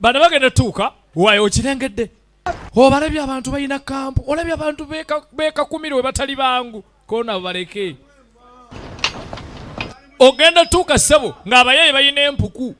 bana bagenda tuuka wayo okirengedde obalabye abantu balina kampu olabye abantu bekakumire we batali bangu kona baleke ogenda tuuka ssebo ng'abayaye balina empuku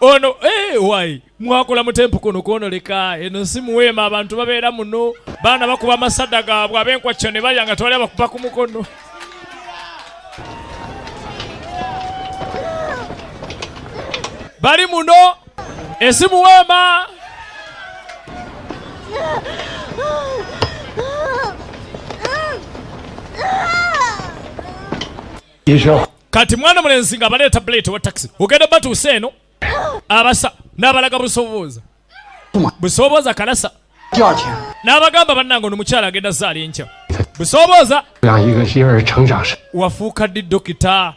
ono eh, wai mwakola mutempu kuno kwonoleka eno si muweema abantu babeera muno baana bakuba amasada gaabwe abenkwakyo ne balya nga tewali abakuba ku mukono bali muno esi muweema kati mwana mulenzi nga abaleeta buleti wa taxi ogenda batuusa eno abasa n'abalaga busobooza busobooza kalasa n'abagamba bannange ono mukyala agenda zaala enkya busobooza wafuuka ddi dokita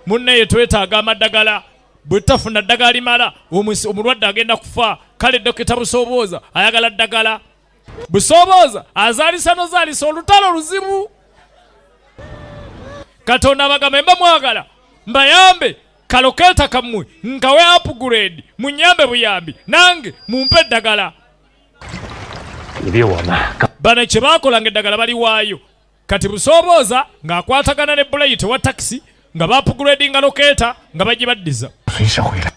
munnaye twetaaga amadagala bwe tutafuna ddagala limala omulwadde agenda kufa kale dokita busobooza ayagala ddagala busoobooza azaalisa nozaalisa olutalo luzibu katonda abagambe mba mwagala mbayambe kalokeeta kammwe nkawe upgrade munyambe buyambi nange mumpe eddagala bano kye baakolanga eddagala baliwaayo Kati Busoobooza ng'akwatagana ne Bulayi tewa takisi nga baapuguleedinga lokeeta nga bagibaddiza.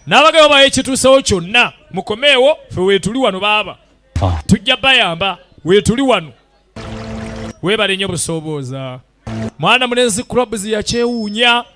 N'abagayo bawa ekituusewo kyonna mukomeewo ffe weetuli wano baaba. Ah. Tujja bayamba weetuli wano. Weebale nnyo Busoobooza. Mwana mulenzi Clubs yakyewuunya.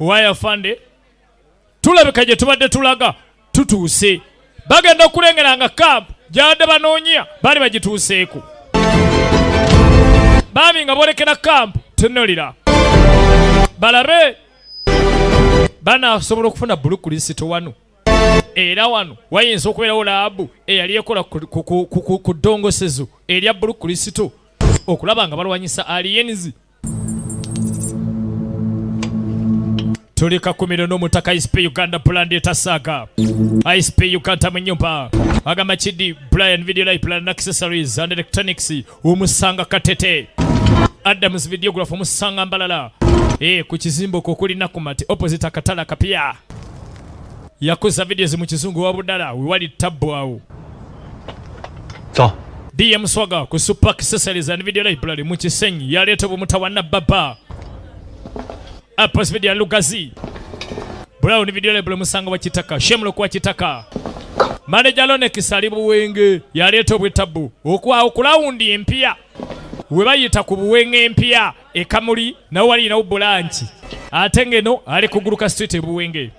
waya fande tulabika gye tubadde tulaga tutuuse bagenda okulengera nga kampu gyabadde banoonya baali bagituuseeko baami nga boolekera kampu tunulira balabe banasobola okufuna bulu kulisito wano era wano wayinza okubeerawo laabu eyali ekola ku ddongosezo erya bulu kristo okulaba nga balwanyisa aliyenzi tuli kakumiro n'omutaka isp uganda pulandi etasaaga isp uganda mu nyumba agamba kidi brian video library and accessories and electronics omusanga katete adams videograph omusanga mbalala e, ku kizimbo kwo kuli nakumati opposite akatala kapya yakoza videos mu kizungu wa budala wewali tabbu awo so. dm swaga ku super accessories and video library mu kisenyi yaleeta obumutawana baba Apos video ya Lugazi. Brown video label musango wa Kitaka. Shemlo kwa Kitaka. Manager Lone Kisali Buwenge yaleeta obwetabu okwa okulawundi empya we bayita ku Buwenge empya e Kamuli nawo wali nawo bulanki ate ngeno ali kuguluka street e Buwenge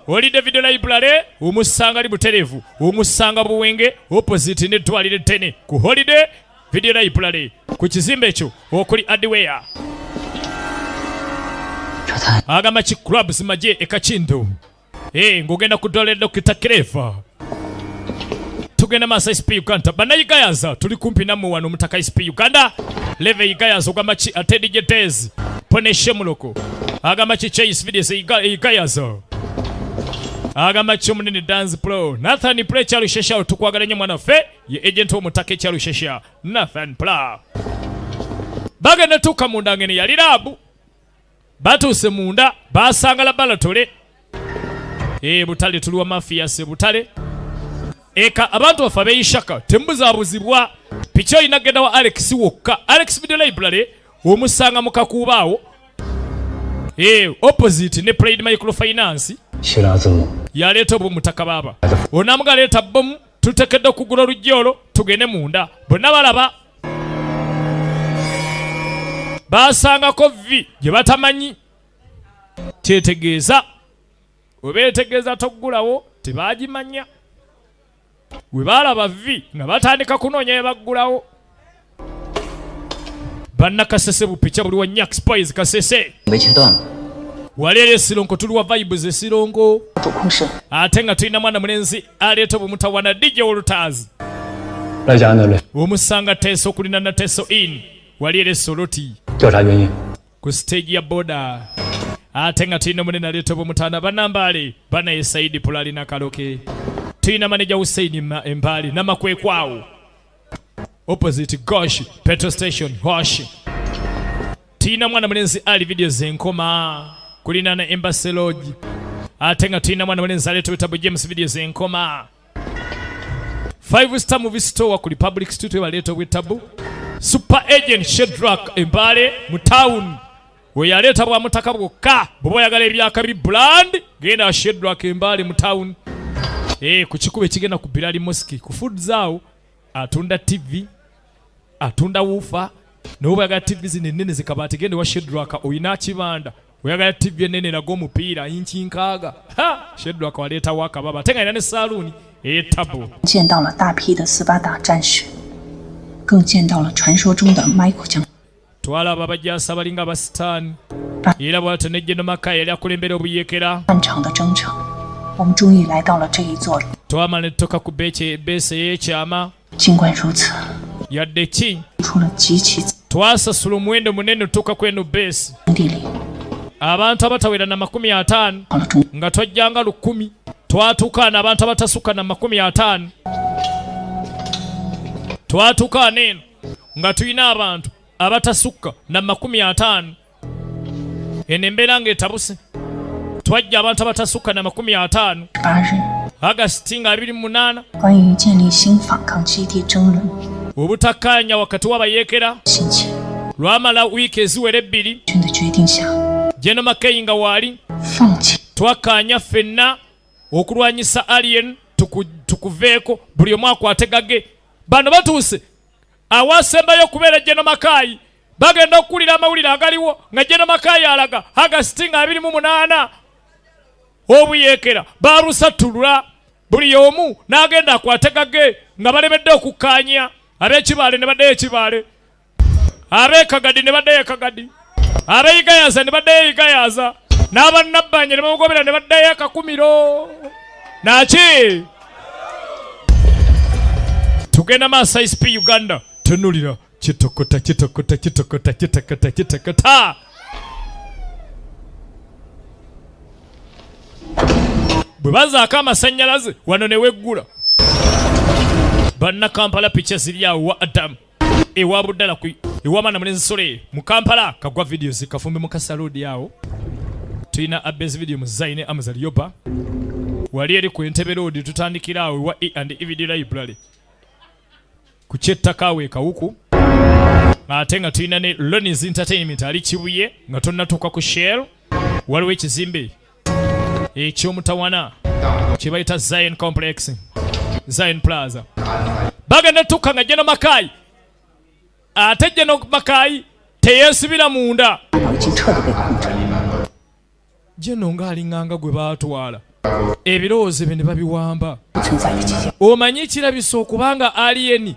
oli David Library omusanga ali buterevu omusanga Buwenge opposite ne twalire tene ku holiday Video library ku kizimbe ekyo okuli Adiweya agamba ki clubs maje e Kakindu eh ngogenda kudole Dr. Kirefa tugenda masa SP Uganda bana yigayaza tuli kumpi namwe wano mutaka SP Uganda leve yigayaza ogamba ki ate DJ Dez poneshe muloko agamba ki Chase videos yigayaza agamba ki omunene dance pro Nathan Preacher lushesha tukwagala nyo mwana fe ye agent w'omuttaka ekya Lushesha Nathan Pla bagenda tuuka munda ngene yali laabu batuuse munda basanga labalatole e eh, butale tuli wa mafiya se butale eka abantu bafa beyishaka tembuzabuzibwa piki olina genda wa alex wokka alex video library omusanga mu kakuubaawo e eh, opposite ne pride microfinance yaleeta obwo mutaka baaba onamugaleeta bomu Tutekedde okugula oluggi olwo tugende munda. Bonna balaba. Baasangako vvi gye batamanyi. Kyetegeeza. Webeetegeeza toggulawo tebaagimanya. We baalaba vvi nga batandika kunoonya we baggulawo. banna kasese bupicha buli wa nyak spies kasese waleero esironko tuli wa vibes esironko ate nga tulina mwana mulenzi aleeta obumutawana dj olutaazi omusanga teeso okulina na teeso in waleero esoloti ku stage ya boda ate nga tulina munene aleeta obumutaana banambaale banaye saidi pula alina kaloke tulina maneja huseini embaali namakwekwawo opposite gosh petrol station gosh tulina mwana mulenzi ali vidiyo zenkoma kulina na embassy lodge ate nga tulina mwana mulenzi aleeta obutabu james vidiyo zenkoma five star movie store ku republic street webaleeta obwetabu super agent shedrak embaale mu town we yaleeta bwa mutaka bwokka bwoba oyagala ebyakabi brand genda ashedrak embaale mu town e, ku kikuba ekigenda ku bilali mosque ku food zaawo atunda tv atunda wuufa nawe oba oyagala tv zino ennene zikabaati genda ewa shedrak olina akibanda oyagala tv ennene eraga omupiira yinki nkaaga shedrak waleetawo akababa ate nga alina ne saaluuni eyetabu 更见到了传说中的 Michael 将。 Twalaba abajaasi abalinga abasitaani era bwatyo ne General Makaya yali akulembera obuyeekera. Twamala ne tutuuka ku beesi ey'ekyama. Yadde ki twasasula omuwendo munene otuuka ku eno beesi abantu abatawera na makumi ataano nga twajjanga lukumi twatuukaana abantu abatasukka na makumi ataano twatuukaana eno nga tulina abantu abatasukka na makumi ataano eno embeera nga etabuse twajja abantu abatasukka na makumi ataano agasiti nga abiri munaana obutakkaanya wakati w'abayeekera lwamala wiiki eziwera ebbiri jeno makeyi nga waali twakkaanya ffenna okulwanyisa alien tukuveeko buli omu akwate gage Bano batuuse awaasembayo okubeera Jeno Makaayi bagenda okukulira amawulire agaliwo nga Jeno Makaayi alaga Agasiti nga abiri mu munaana obuyeekera baalusattulula buli omu n'agenda akwate gage nga balemedde okukkaanya ab'ekibaale ne baddayo ekibaale abekagadi ne baddayo ekagadi abeyigayaza ne baddayo eyigayaza n'abannabbanja ne bamugobera ne baddayo akakumiro naki tugenda maaso isp uganda tunulira kitokota kitokota kitokota kitokota kitokota bwe bazaako amasannyalaze wano ne weggula bannakampala piki eziri awo wa adamu ewa budala ku ewa bana mulenzi sole mu Kampala kagwa videos kafumbe mu kasalodi awo tulina abes video mu zaine amazal yoba wali eri ku entebe road tutandikira awo ewa e and evid library ku kyettaka awo ekawuku ate nga tulina ne Lonnie's Entertainment ali Kibuye nga tonnatuuka ku Shell waliwo ekizimbe ekyomutawana kyebayita zion complex zion plaza bagenda tukka nga jeno makayi ate jeno makayi teyesibira munda jeno ngaalinganga gwe batwala ebirowoozo ebyo ne babiwamba omanyi ekirabisa okubanga aliyeni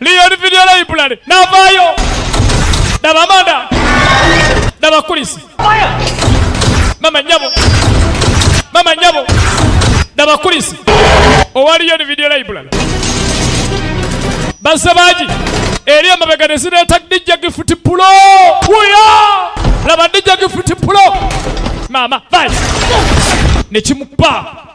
Leon Video Library navaayo daba amanda daba kulisi mama nyabo mama nyabo daba kulisi owa Leon Video Library bazze bangi eri emabega ne zireeta dijja gifuti pulo wuyo laba dijja gifuti pulo maama vai nekimupa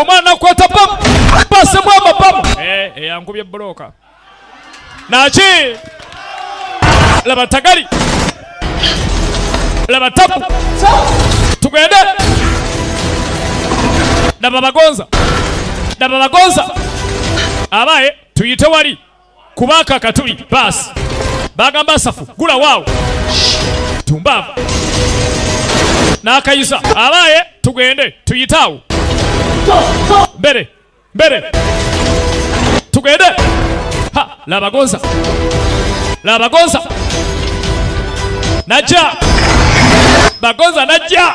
omwana akwata bamu basemu amabamu eh, eyankubye eh, buloka naki laba tagali laba tapu tugende laba bagonza laba bagonza abaye tuyite wali kubaka katuli basi bagamba asafu gula waawo tumbaava n'akayisa abaaye tugende tuyite awo mbere mbere tugende ha labagonza labagonza najja bagonza najja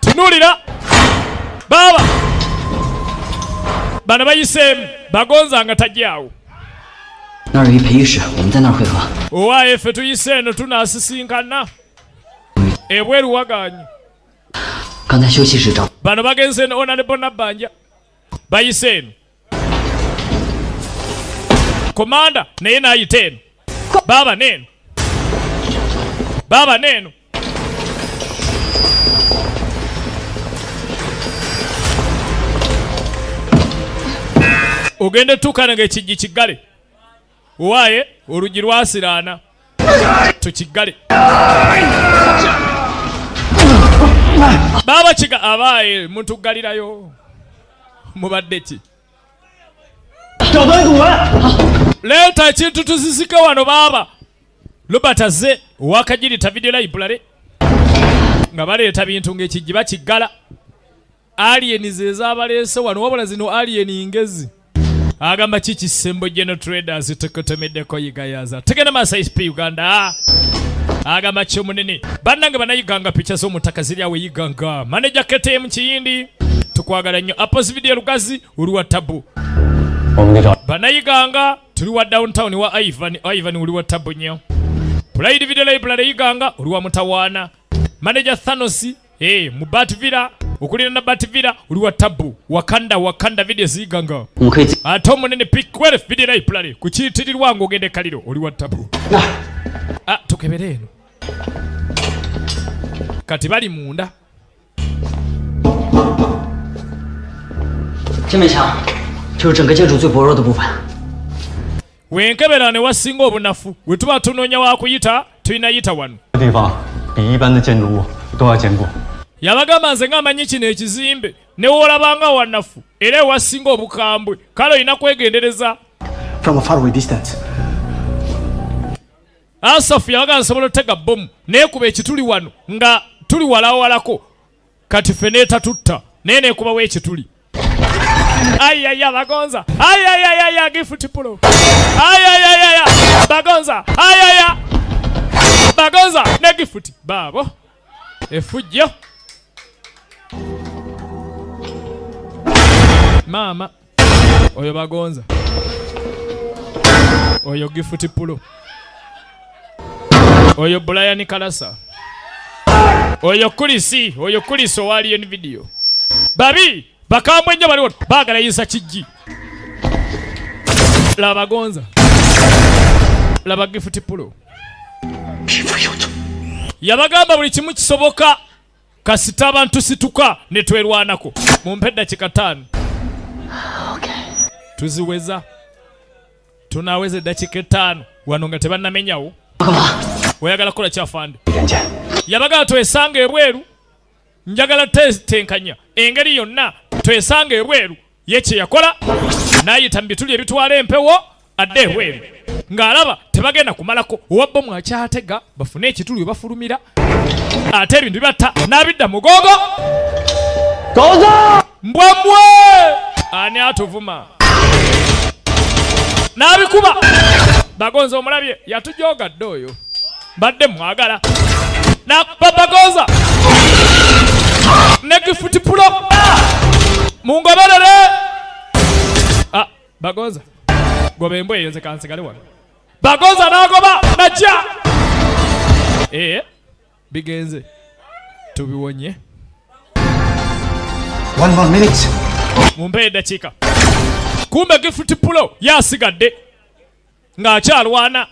tunulira baaba bana bayiseemu bagonza nga tajyawo owaye ffe tuyise eno tunasisinkana ebweru waganye bano bagenze onalebonabanja bayise eno komanda naye nayita eno baaba neeno baaba neeno ogenda otuukana nga ekijji kiggale Owaye oluggi lwasiraana tukiggale. Baaba kiga abaaye mutuggalirayo mubadde ki? Leeta ekintu tuzizike wano baaba. Robert azze owakajirita video library nga baleeta bintu ng'ekijji bakiggala. Alien zezabaleese wano wabula zino alien ngezi agamba ki kisembo geno traders tukutumiddeko yigayaza tugenda maaso isp uganda agamba ki omunene bannange banayiganga picha z'omutaka ziri awo eyiganga maneja ktm kiyindi tukwagala nnyo apos video lugazi oli wa tabu banayiganga tuli wa downtown wa ivan ivan oli wa tabu nnyo pride video library yiganga oli wa mutawaana maneja thanosi Hey, mu batvira okulira na batvira oli wa tabu wakanda wakanda video ziganga ate omunene pikwere video library ku kiyitirirwa ng'ogenda ekaliro oli wa tabu ah, tukebere eno kati bali munda Wenkebera ne wasinga obunafu. We tuba tunoonya wa kuyita, tulina yita wano. Yabagamba nze ng'amanyi kino ekizimbe ne wolabanga wanafu era ewasinga obukambwe kale olina kwegendereza. From a far away distance. Asafu yabaga nsobola otega bomu nekuba ekituli wano nga tuli walawalako kati ffe netatutta naye nekubawo ekituli ayaya bagonza ayayayaya gifutipulo ayayayaya bagonza ayaya bagonza ne gifuti baabo efujjo maama oyo bagonza oyo gifuti pulo oyo bulayani kalasa oyo kulisi oyo kulisi owaliyo ni vidiyo babi bakambwe nnyo baliwo bagala yisa kijji laba bagonza laba gifuti pulo yabagamba buli kimu kisoboka kasita abantu situka ne twerwanako mumpe eddakiika ttaano tuziweza tunaweza eddakiika ettaano wano nga tebannamenyawo oyagala kukola kyafande yabagala twesanga ebweru njagala tenkanya engeri yonna twesanga ebweru ye kye yakola n'ayita mu bituli ebitwala empewo adde ebweru ng'alaba tebagenda kumalako owa bbomu akyatega bafune ekituli we bafulumira ate ebintu bibatta n'abidda mugogo mbwamwe ani atuvuma n'abikuba bagonza omulabye yatujoogadde oyo mbadde mwagala nakupapagoza nekifuti pulo mungoberere ah, bagoza goba embwa eyo nze kansigale wano bagoza nagoba najja ee eh, bigenze tubiwonye mumpe edakiika kumbe gifuti pulo yasigadde ng'akyalwana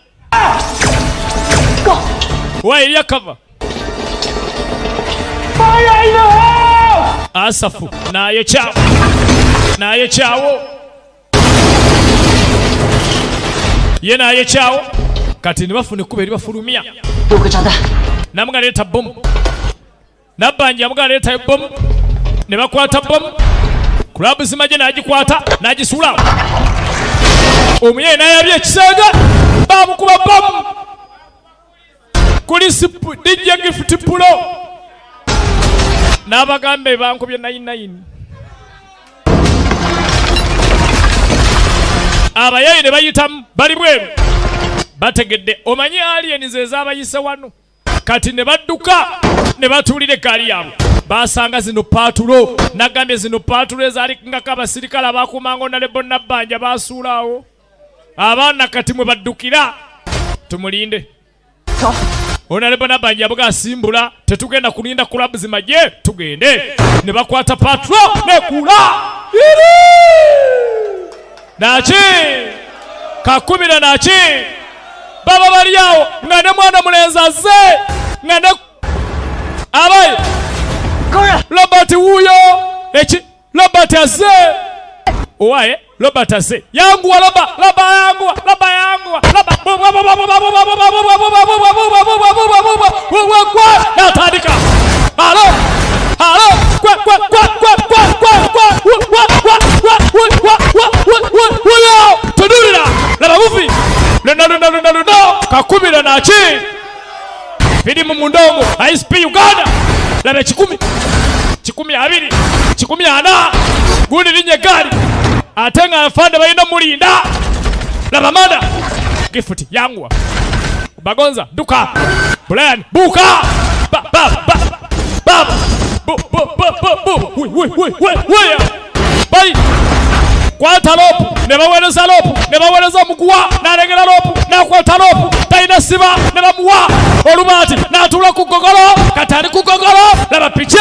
wa eriya kava asafu naye kyawo naye kyawo ye naye kyawo kati nibafuna ekkuba eri bafulumya namugaleeta bomu Nabbanja yamuga aleeta ebbomu ne bakwata bbomu kulabu zimagye n'agikwata n'agisuula omuyaye n'ayabya ekisenge baamukuba bbomu kuli dijja gifuti pulo n'abagamba ebankubye nayinayini abayaye ne bayitamu bali bweru bategedde omanyi aliyeni ze zaabayise wano kati ne badduka ne batuulira eggaali yaabwe baasanga zino paatulo nagambye zino paatulo ezaalingako abasirikale abaakuumanga onalebo nabbanja baasuulaawo abaana kati mwe baddukira tumulinde onalebo nabbanja yabuga asimbula tetugenda kulinda kulabu zimagye tugende ne bakwata paatulo nekuula naki kakubira naki baba bali awo nga ne mwana mulenzi azze nga ne abayi robert wuuyo eki robert azze owaye robert azze yanguwa loba loba yanguwa loba yanguwa loba natandika alo alo tudulira laba buvi luna luna luna luna kakubira naki firimu munda omu isp uganda laba ekikumi kikumi abiri kikumi ana gundi linye gaali ate nga nfande balina mulinda laba mada gifuti yanguwa Bagonza duka. Brian buka. Ba ba ba. Ba. Bu bu bu bu bu. Woi woi woi woi woi. Bai. Kwata lopu ne bawereza lopu ne bawereza omuguwa n'alengera lopu n'akwata lopu talina siba ne bamuwa olubaati n'atuula ku ggogolo kati ali ku ggogolo laba pica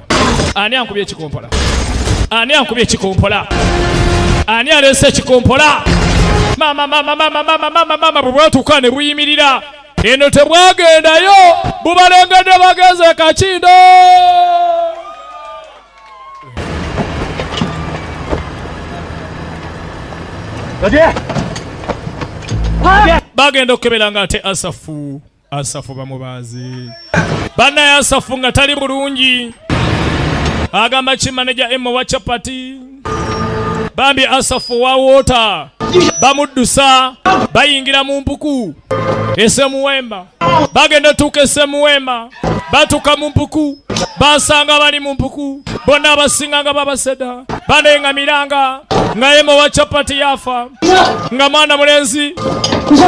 Ani ankubye ekikompola? Ani ankubye ekikompola? Ani aleese ekikompola? Mama, mama, mama, mama, mama, mama, bwe bwatuuka ne buyimirira eno tebwagendayo bubalengedde bagenze kakindo bagenda okukebera nga ate asafu Asafu bamubaazi bana ya Asafu nga tali bulungi agamba ki maneja emu wa chapati bambi Asafu wa wota bamuddusa bayingira mu mpuku esemuwemba bagenda tuuka esemuwemba batuuka mu mpuku basanga bali mu mpuku bonna abasinga nga babaseda banengamiranga nga emu wa chapati yafa nga mwana mulenzi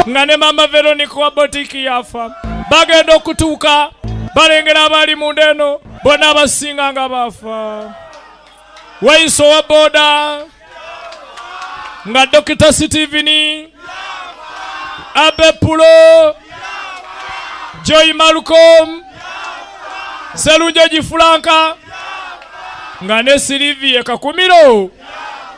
nga ne maama veronica wa botiki yafa bagenda okutuuka balengera abaali munda eno bona abasinga nga baafa wayisa owa booda nga dokita sitivini abepulo joyi malcom selunjoji fulanka nga ne siliviye kakumiro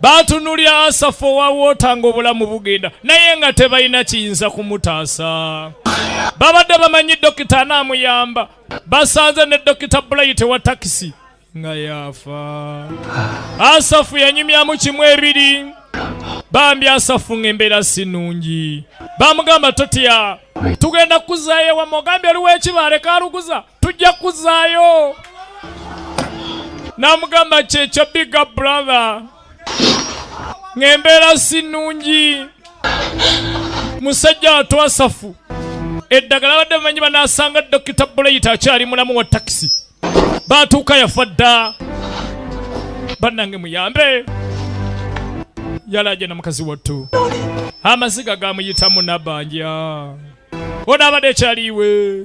Baatunulira Asafu owa woota ng'obulamu bugenda naye nga tebalina kiyinza kumutaasa. Babadde bamanyi dokita anaamuyamba, basanze ne Dokita Bulayiti wa takisi nga yaafa. Asafu yanyumyamu kimu ebiri, bambi Asafu ng'embeera si nnungi. Baamugamba totya, tugenda kukuzaayo ewamu, ogambye oliwo ekibaale kaaluguza. tujja kuzaayo namugamba kyekyo biga brother ng'embeera si nnungi musajja watwasafu eddagala badde bamanyi banaasanga dokita buleyita akyali mulamu wa takisi baatuuka yafa dda bannange muyambe yalaja na mukazi wattu amaziga gamuyitamu nabanja onaabadde ekyaliiwe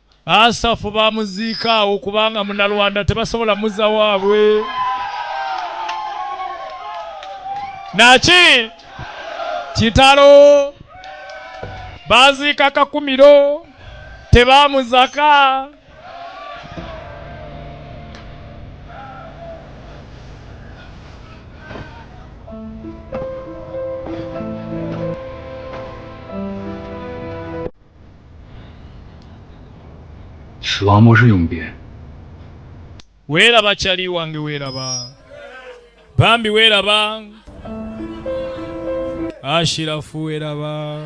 Asafu bamuziika awo kubanga munalwanda tebasobola muza wabwe naki kitalo baziika kakumiro tebamuzaka Weeraba Chali wange weeraba Bambi weeraba Ashirafu weeraba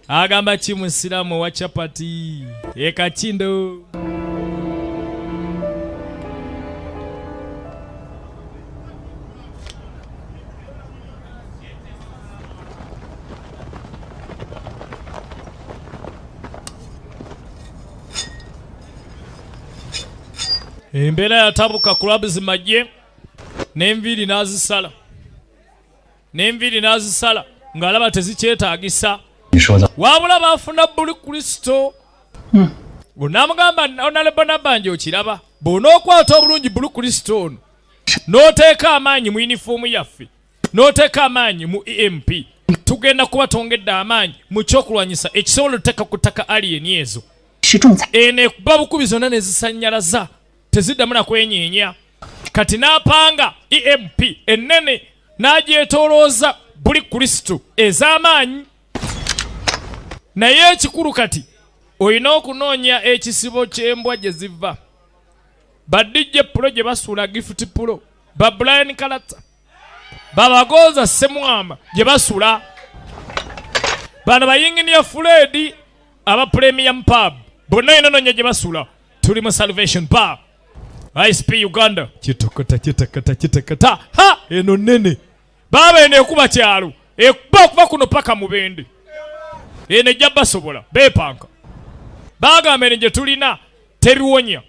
Agamba ki musiramu owa chapati ekakindo embeera yatabuka club zimajje n'enviiri n'azisala n'enviiri n'azisala ng'alaba tezikyetaagisa wabula baafuna buli kristo hmm. onamugamba onalebonabanja okiraba bw'onookwata obulungi buli kristo ono n'oteeka amaanyi mu yunifoomu yaffe n'oteeka amaanyi mu emp tugenda kuba twongedde amaanyi mu kyokulwanyisa ekisobola oteeka ku ttaka aliyeni ezo eno ekuba bukubi zonna ne zisannyalaza teziddamu na kwenyeenya kati n'apanga emp ennene n'agyetoolooza buli kristo ez'amaanyi naye ekikulu kati olina okunoonya ekisibo ky'embwa gye ziva ba DJ Pulo gye basuula Gift Pulo, ba Brian Kalata, babagonza Ssemwama gye basula, bano bayinginiya Fuledi aba Premium Pub bonna enononya gye basula, tuli mu Salvation Pub ISP Uganda kitokota kitakata kitakata ha eno nene baaba eno ekuba kyalo ekuba okuba kuno paka mubende eno ejja basobola bepanka bagamba eno gyetulina tebiwonya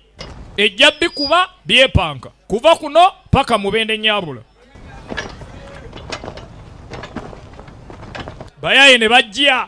ejja bikuba byepanka kuva kuno paka mubende nyabula bayaye ne bajja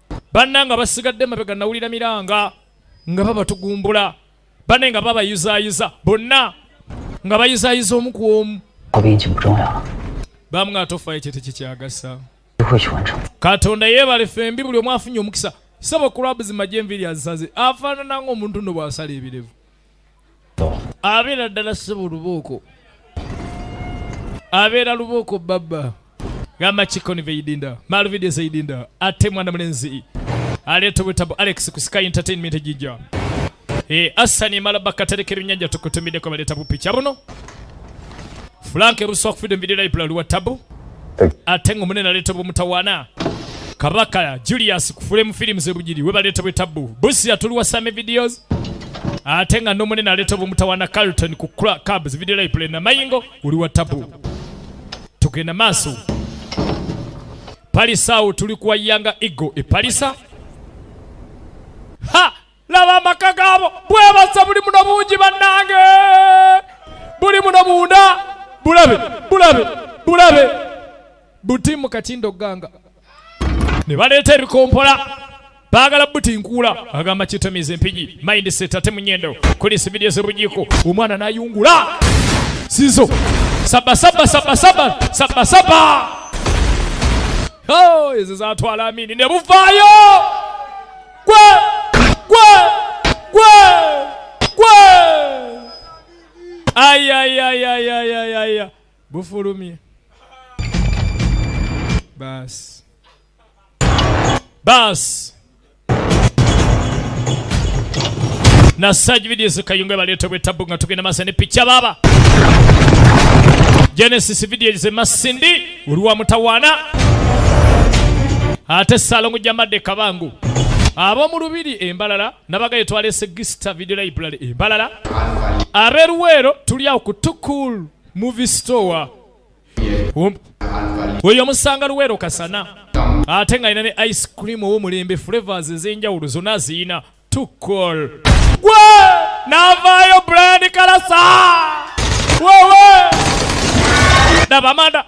banna nga basigadde mabega nawulira miranga nga babatugumbula bane nga babayuzayuza bonna nga bayuzayuza omu ku omu bamu nga tofa ekyo tekikyagasa katonda yebale fembi buli omu afunye omukisa saba kulabu zimaje enviri azisaze afaanana ngaomuntu no bwasala ebirevu abeera ddala ssebo lubooko abeera lubooko babba gamba kikoni veidinda malvidia zeidinda ate mwana mulenzi aleeta obwetabu alex ku sky entertainment ejijja e eh, asani emala bakatereka ebinyanja tukutumiddeko baleeta bupicha buno frank ruswa okufidde mu video library wa tabu ate nga omunene aleeta obumutawaana kabaka julius kufule mu firimu zebugiri webaleeta bwetabbu busi yatuliwa same videos ate nga nomunene aleeta obumutawaana carlton ku cabs video library namayingo oli wa tabu tugenda maaso palisa awo tuli kuwa yanga ego epalisa ha laba amaka gaabo bwebasa buli muno bungi bannange buli muno munda bulabe bulabe bulabe buti mu katindo ganga ne baleeta ebikompola baagala buti nkuula agamba kitamiza empigi mindset ate munyendo kuli sibirye zebujiko omwana nayungula sizo sabasaba sabasaba sabasaba oh, ezo zatwala amini ne buvaayo ayayayayayaya bufulumye basi basi na sage videos kayunga baleeta bwetabu nga tugenda masa ne picha baba genesis videos emasindi oli wa mutawaana ate salongo jamadde kabangu ab'omu lubiri embalala nabagaye twalese gista video library embalala aberuweero tuli awo ku tukul movie store um, oyo omusanga luweero kasana ate nga alina ne ice cream ow'omulembe flavors ez'enjawulo zonna aziyina to call gwe navaayo Brian Kalasa wewe daba amanda